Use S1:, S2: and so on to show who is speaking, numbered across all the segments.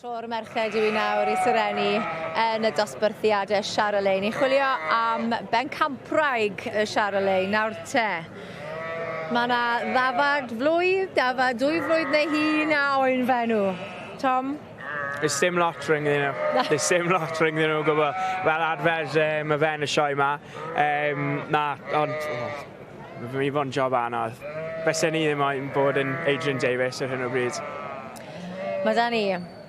S1: Tro'r merched yw i nawr i serennu yn y dosbarthiad y Charolais. Ni'n chwilio am bencampwraig y Charolais nawr te. Mae yna ddafad flwydd, dafad dwy flwydd neu hun a oen fenw. Tom? There's sim
S2: lot rhwng ddyn nhw. There's sim lot rhwng ddyn nhw gwybod. Fel arfer, um, y fen y sioe yma. Um, na, ond... Oh, mae fod yn job anodd. Fysen ni ddim moyn bod yn Adrian Davies ar hyn o bryd. Mae
S1: da ni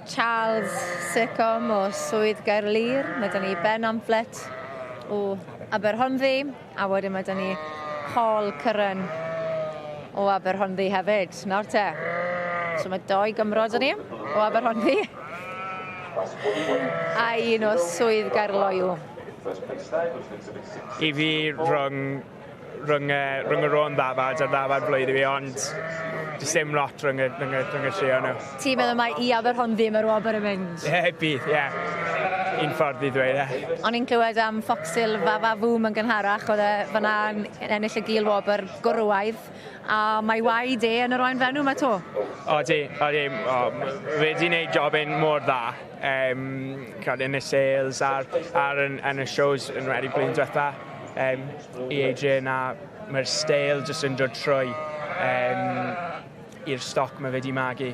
S1: Charles Seccombe o Swydd Gaerlŷr, mae da ni Ben Amphlett o Aberhonddu, a wedyn mae da ni Paul Curran o Aberhonddu hefyd. Nawr te, so mae doi Gymro da ni o Aberhonddu a un o Swydd Gaerloyw.
S2: I fi rhwng rhwng y, rhwng y rôn ddafad a'r ddafad flwyddyn fi, ond does dim lot rhwng y, rhwng y, rhwng y tri o'n nhw. Ti'n meddwl mae i
S1: Aberhon ddim yr wobr yn mynd? Ie, yeah, bydd, ie. Yeah.
S2: Un ffordd i ddweud e. O'n i'n clywed am
S1: Ffoxil Fafa Fwm yn gynharach, oedd e fyna'n ennill y gil wobr gwrywaidd, a mae waed e yn yr oen fenw mae to. O, di, o,
S2: di, o, fe di wneud job yn mor dda. Um, yn y sales a'r, ar yn, yn y shows yn wedi blwyddyn diwetha. Yym i AJ na ma'r steil jyst yn dod trwy yym i'r stoc ma' fe 'di magu.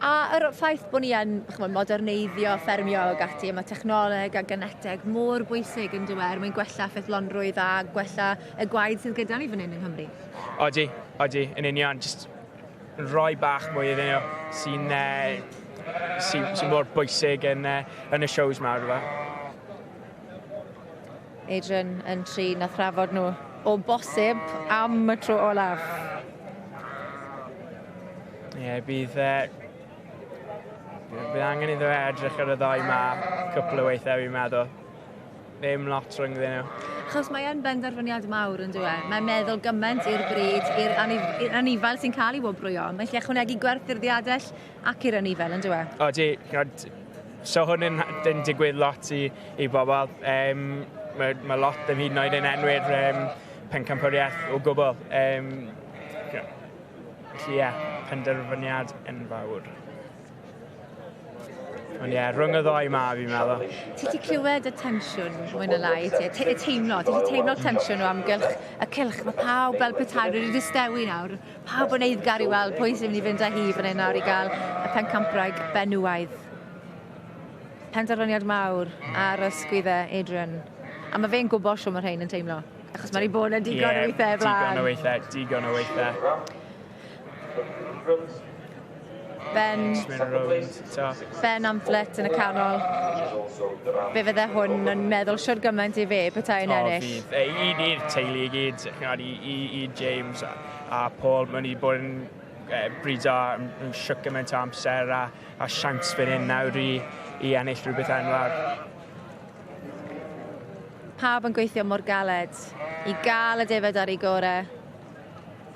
S1: A yr ffaith bo' ni yn ch'mod moderneiddio ffermio ag ati a ma' technoleg a geneteg mor bwysig yndyw e er mwyn gwella ffyddlonrwydd a gwella y gwaed sydd gyda ni fan hyn yng Nghymru. Odi, odi,
S2: yn union jyst rhoi bach mwy iddyn nhw sy'n yy sy sy mor bwysig yn yy yn y shows 'ma rwbeth.
S1: Adrian yn trin a thrafod nhw o bosib am y tro olaf.
S2: Ie, yeah, bydd... Uh, bydd angen iddo fe edrych ar y ddau ma cwpl o weithiau fi'n meddwl. Ddim lot rhyngddyn nhw. Chos mae e'n
S1: benderfyniad mawr yn dweud. Mae'n meddwl gymaint i'r bryd, i'r anifail sy'n cael ei wobrwyo. Mae'n lle ychwanegu gwerth i'r ddiadell, ac i'r anifail yndyw e? Odi, ond
S2: so hwn yn yn digwydd lot i i bobl yym mae mae lot ddim hyd yn oed yn enwi'r yym pencampwriaeth o gwbl yym ie. Felly ie, penderfyniad enfawr. Ond ie, rhwng y ddou ma fi'n meddwl. Ti 'di clywed
S1: y tensiwn mwy na lai ti? Te- y teimlo, ti 'di teimlo'r tensiwn o amgylch y cylch, ma' pawb fel petai wedi distewi nawr. Pawb yn eiddgar i weld pwy sy'n mynd i fynd â hi fan hyn nawr i gael y pencampwraig benywaidd. Penderfyniad mawr ar ysgwydd e, Adrian. A mae fe'n gwybod siw mae rhain yn teimlo. Achos mae rhi bod yn digon yeah, o weithiau flaen. Digon o weithiau, digon o weithiau.
S2: Ben.
S1: Ben am Flit yn y canol. Fe fydde hwn yn meddwl siwr gymaint i fe petai yn ennill. O, fydd. Ei, un i'r teulu
S2: i gyd, i, i, i James a, a Paul. Mae'n i bod yn e, brido yn, yn siwc gymaint o amser a, a siant fan hyn nawr i, i ennill rhywbeth enwog.
S1: Pawb yn gweithio mor galed i gael y defod ar ei gorau.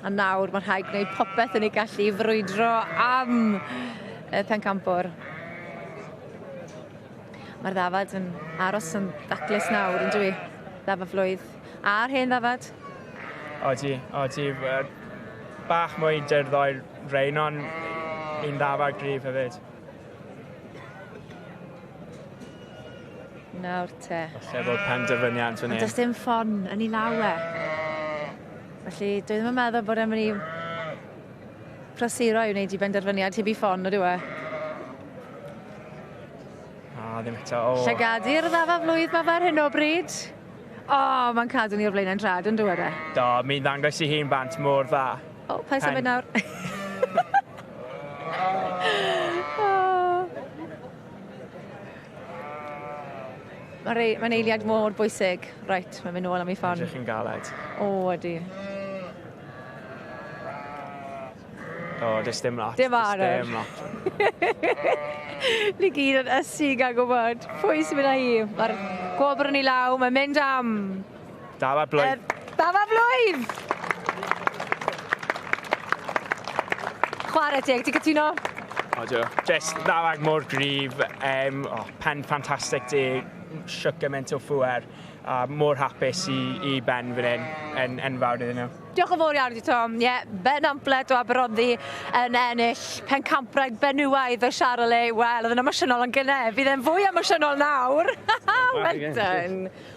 S1: A nawr mae rhaid gwneud popeth yn ei gallu i frwydro am y pencampwr. Mae'r ddafad yn aros yn daclus nawr, yn dwi? Ddafa flwydd. A'r hen ddafad? O ti,
S2: o ti. Bach mwy dyrddau'r rein, ond un ddafad grif hefyd.
S1: Nawr te. Falle bod penderfyniad
S2: fan hyn. Ond does dim ffon
S1: yn
S2: ei
S1: law e. Felly, dwi ddim yn meddwl bod e'n mynd i prosuro i wneud i benderfyniad heb i ffon o diwe.
S2: A, ddim eto. O. Llygadi'r ddafa
S1: flwydd mae ar hyn o bryd. O, oh, mae'n cadw ni o'r blaen yn drad yn dywed e. Do, mi'n ddangos i
S2: hi'n bant mor dda. O, paid symud nawr.
S1: Mae'n rei, mae'n eiliad mor bwysig. Reit, mae'n mynd nôl am ei ffon. Ydych chi'n galed?
S2: O, ydy. O, does dim lot. Dim ar Does dim lot.
S1: Ni gyd yn ysu gan gwybod pwy sy'n mynd â hi. Mae'r gwobr yn ei law, mae'n mynd am. Dafar
S2: Blwydd. Er, Dafar Blwydd!
S1: Chwarae teg, ti'n cytuno? O, dwi. Just
S2: ddarag mor grif, um, oh, pen ffantastig di, siwc gymaint o ffwer, a mor hapus i, i ben fan hyn, yn enfawr iddyn nhw. Diolch yn
S1: fawr iawn i Tom. Ie, yeah, Ben Amplet o Aberoddi yn ennill pen campwraig benywaidd o Charolais. Wel, oedd yn emosiynol yn gynne. Bydd e'n fwy emosiynol nawr. well done.